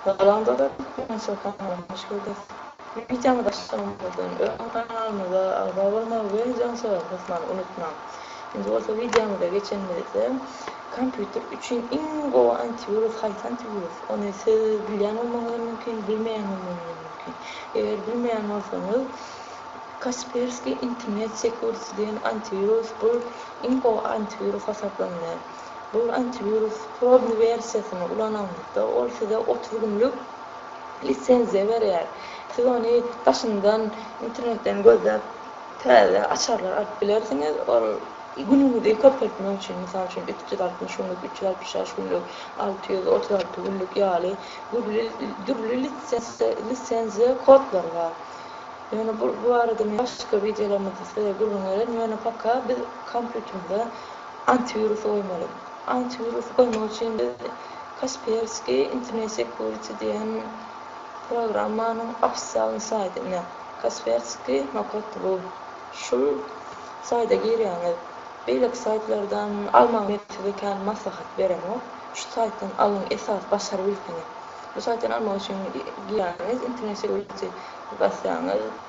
Salam dogan Türkmen show kanalyna hoş geldiňiz. Wideony başlamazdan öň kanalymyza agza bolmagy we jan sogap basmany unutmaň. Indi bolsa wideomyza geçenimizde kompýuter üçin iň gowy antiwirus haýsy antiwirus? Ony siz bilýän bolmagyňyz hem mümkin, bilmeýän bolmagyňyz hem mümkin. Eger bilmeýän bolsaňyz Kaspersky internet security diýen antiwirus bu iň gowy antiwirus hasaplanylýar. Bu antiwirus probny wersiýasyny ulanaňyzda, ol size otuz günlük lisenziýa berýär. Siz ony daşyndan internetden gözläp täze açarlar alyp bilersiňiz. Ol günüňizi köpeltmek üçin, mysal üçin, üç ýüz altmyş günlük, üç ýüz altmyş bäş günlük, alty ýüz otuz alty günlük ýaly dürli dürli lisenziýa kodlary bar. Ýöne bu barada men başga wideolarymyzda size gürrüň bererin. Ýöne paka biz kompýuterimize Antiwirus goýmaly. Antiwirusy goýmak üçin biz Kaspersky Internet Security diýen programmanyň ofisial saýtyna, Kaspersky nokat ru, şul saýda girýäňiz. Beýleki saýtlardan almagy men size kän maslahat beremok. Şu saýtdan alyň esas başary bilseňiz. Bu saýtdan almak üçin girýäňiz internet security basýaňyz.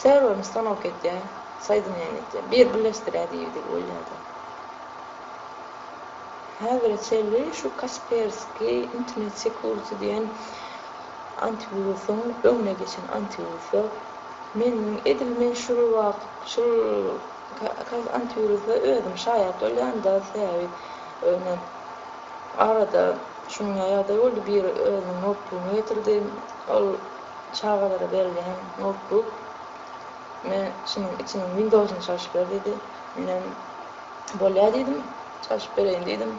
Serwerini stanok etýä, soýdinýän etýä. Bir birleşdirýä diýibdik ol ýerde. Häzire çenli şu Kaspersky internet security diýen antiwirusyň öňüne geçen antiwirusy. Meniň edil men şul wagt şul antiwirusa özüm şaýat bolýan-da sebäbi ýöne arada şuňa ýagdaý boldy biri özüniň notbugyny getirdi ol Çagalara berilýän noutbuk. Ine, şunuň içiniň Windows-yny çalşyp ber diýdi. Menem bolýa diýdim. Çalşyp bereýin diýdim.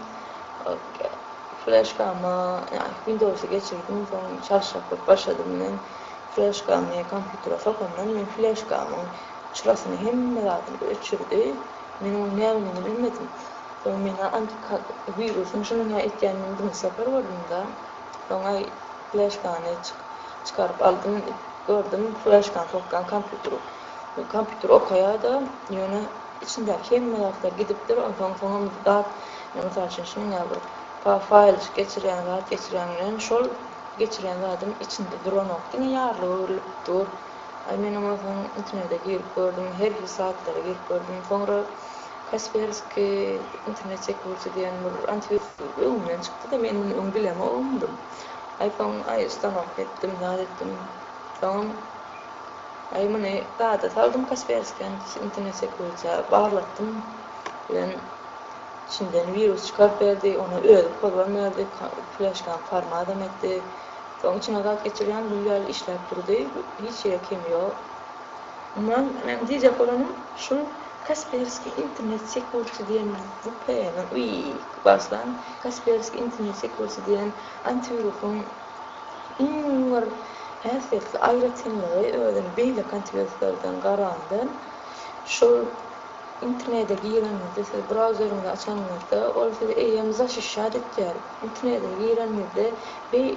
Fleşkama, ýa-ni Windows-y geçirdim, soň çalşak bolup başladym. Men fleşkany kompýutere sokandan men fleşkamyň çyrasyny hemme zadyny öçürdi. Men onuň nämedigini bilmedim. Soň men antiwirus-yny şunuň-a etýänini birinji sapar gördüm-de. Soňa fleşkany çykaryp aldym. Gördüm, fleşkany sokýan kompýuter. Kompýuter okaýar-da, ýöne içindäki hemme zatlar gidipdir. Onsoň soňam zat, mysal üçin, şunuň ýaly bir faýl geçirýän zat geçirýän bilen şol geçirýän zadym içinde duranok, diňe ýarly öwrülip dur. Aý, men onsoň internete girip gördüm, her hili saýtlara girip gördüm. Soňra Kaspersky internet çekgüwürçi diýen bir antiwirus öňünden çykdy-da, men muny öň bilemogmdym. Aý, soň, aý, ustanowka etdim, zat etdim. Soňam, aý, muny zada saldym Kaspersky internet çekgüwürçä, barlatdym bilen içinden wirus çykaryp berdi, ony özi pozban berdi, fleşkany formadam etdi. Soň içine zat geçirýän gül ýaly işläp durdy, hiç ýere kemi ýok. Mundan men diýjek bolanym şul Kasperskiý internet sekursy diýen VPN-i baslaň, Kasperskiý internet sekursy diýen antiwirusyň iň bir häsiýetli aýratynlygy özüni beýleki antiwiruslardan garanda şul internete gireniňizde siz brauzeriňizi açanyňyzda ol sizi eýýäm zaşişýat etýär, internete gireniňizde beý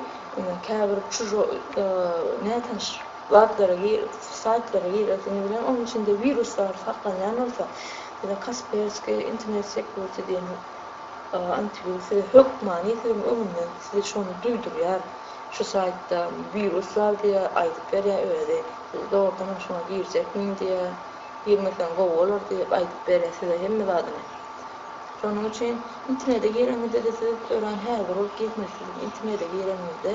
käbir çužo nätanyş Zatlara gir, saýtlara gir, özüňiz bilen onuň içinde wirus bar saklanýan bolsa, ýa-da Kaspersky internet security diýen antiwirus size hökmany siziň öňüňden size şony duýdurýar, şu saýtda wirus bar diýýär, aýdyp berýär özi, siz dogrudanam şoňa girjekmiň diýýär, girmeseň gowy bolar diýip aýdyp berýär size hemme zadyny. Şonuň üçin internete gireňizde-de siz örän häzir bolup girmeli siz internete gireňizde.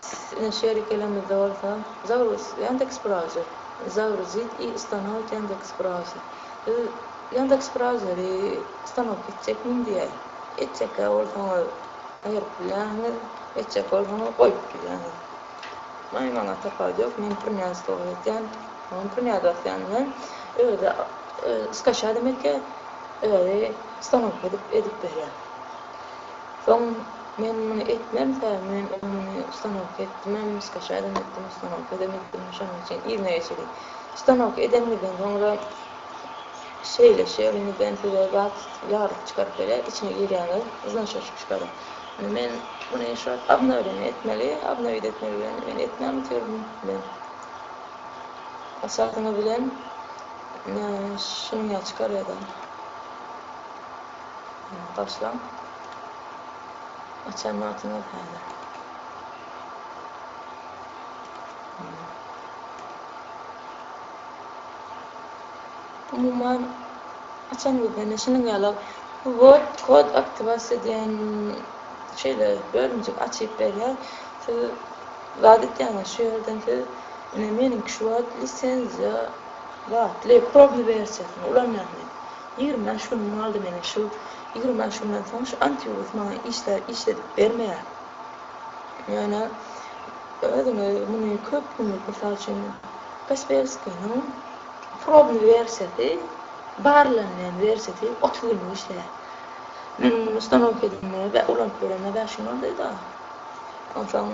Siziň şerikelimizde bolsa Zaurus Yandex Browser, Zaurus ZE ustanowit Yandex Browser. Siz Yandex Browseri ustanowit etjekmiň diýýär. Etjekkä bolsaňyz aýryp bilýäňiz, etjek bolsaňyz goýup bilýäňiz. Maý maňa tapawudy ýok, men prňaz togry etýän, soň prňaz basýan bilen özi skachýa demekkä özi ustanowka edip edip berýär. Soň men muny etmemkä, men oňa muny ustanowka etdimem, skaşaýdam etdim, ustanowkadam etdim, şonuň üçin yzyna geçeli. Ustanowka edenimizden soňra şeýle şeýleňizden size zat ýaglyk çykaryp berýär, içine girýäňiz, yzna-şaşyk çykaryp. Indi men muny şo obnowleniýa etmeli, obnowit etmek bilen men etmän bitirdim. Men açasyňyz bilen şunuňa çykarýa-da. Başlaň. Açan wagtyňyz häzir. Umuman açan gözden şunuň ýaly word kod aktiwasiýa diýen şeýle bölümjik açyp berýär. Siz zat etýäňiz şu ýerden siz ine meniňki şu wagt lisenziýa zatly probny wersiýasyny ulanýan men. Ýigrimi bäş günüm galdy meniň şu ýigrimi bäş günden soň şu antiwirus maňa işler işledip bermeýär. Ýöne özüňe muny köp günlük mysal üçin Kasperskynyň probny wersiýasy barlanýan wersiýasy otuz günlük işleýär. Meniň muny ustanowka edinmege we ulanyp göremge bäş gün aldy da. Onsoň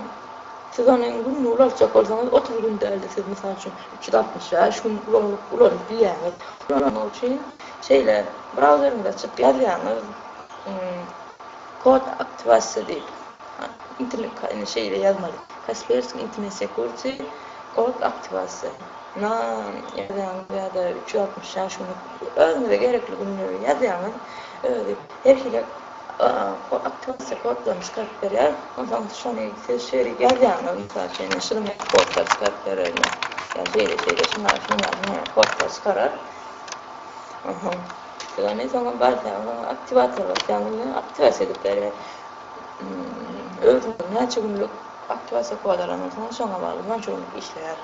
siz ony günde ulaltjak bolsaňyz, otuz gün däl-de, siz, mysal üçin, üç ýüz altmyş bäş gün ulanyp ulanyp bilýäňiz. Ulanmak üçin şeýle brauzeriňizi açyp ýazýaňyz, kod aktiwasiýa diýip, internet indi şeýle ýazmaly, Kaspersky internet security kod aktiwasiýa na ýazýaňyz ýa-da üç ýüz altmyş bäş günlük özüňize gerekli günleri ýazýaňyz, özi her hili Atlasy kodlary çykaryp berýär. Onsoň şony siz şeýle ýazýaňyz, mysal üçin, şunuň kodlary çykaryp berer ýa şeýle-şeýle şundan şundan kodlar çykarar. Onsoň siz ony soňam barsaňyz oňa aktiwator basýaňyz we aktiwasiýa edip berýär. Özüniň näçe günlük aktiwasiýa kody alan bolsaňyz şoňa bagly şonça günlük işleýär.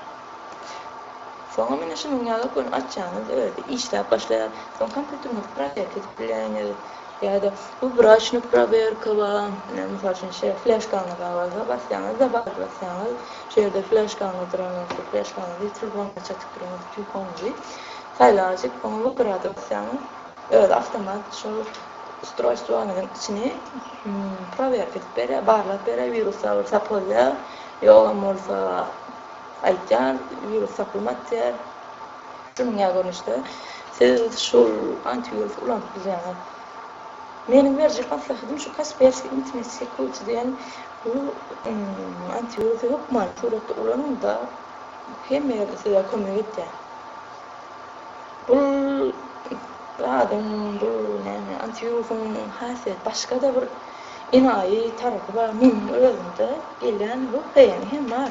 Soňam ine şunuň ýaly ony açýaňyz özi işläp başlaýar. Soň kompýuteriňizi protest edip bileňiz. Ýa-da, Bu braçny prowerka ba, ine, mysal üçin, şeýle fleşkaňyz bar bolsa, basýaňyz, Dobawit basýaňyz, şu ýerde fleşkaňyz duran bolsa, fleşkaňyzy ýitirip bolmasa çatyp giriňiz, Tükeniňizi saýlajyk, oňa Wybrat basýaňyz, özi awtomat şol ustroýstwoňyzyň içini prowerka edip berýär, barlap berýär, wirus bar bolsa tapylýar, ýogram bolsa aýtýar, wirus tapylmady diýýär. Dünýä görnüşde siz şul antiwirusy ulanyp bilýäňiz. Meniň berjek maslahatym şu Kaspersky Intimate Security diýen bu antiwirusy hökmany suratda ulanyňda hemme ýerde size kömek edýär. Bul zadyň bul näme antiwirusyň hasýet başgada bir enaýy tarapy bar. Meniň özümde gelýän bu beýeni hem bar.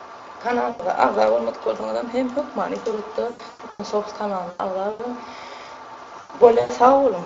Kanalymyza agza bolmadyk bolsaňyzam hem hökmany suratda Tutan Shows kanalyna agza boluň. Bolýa sag boluň.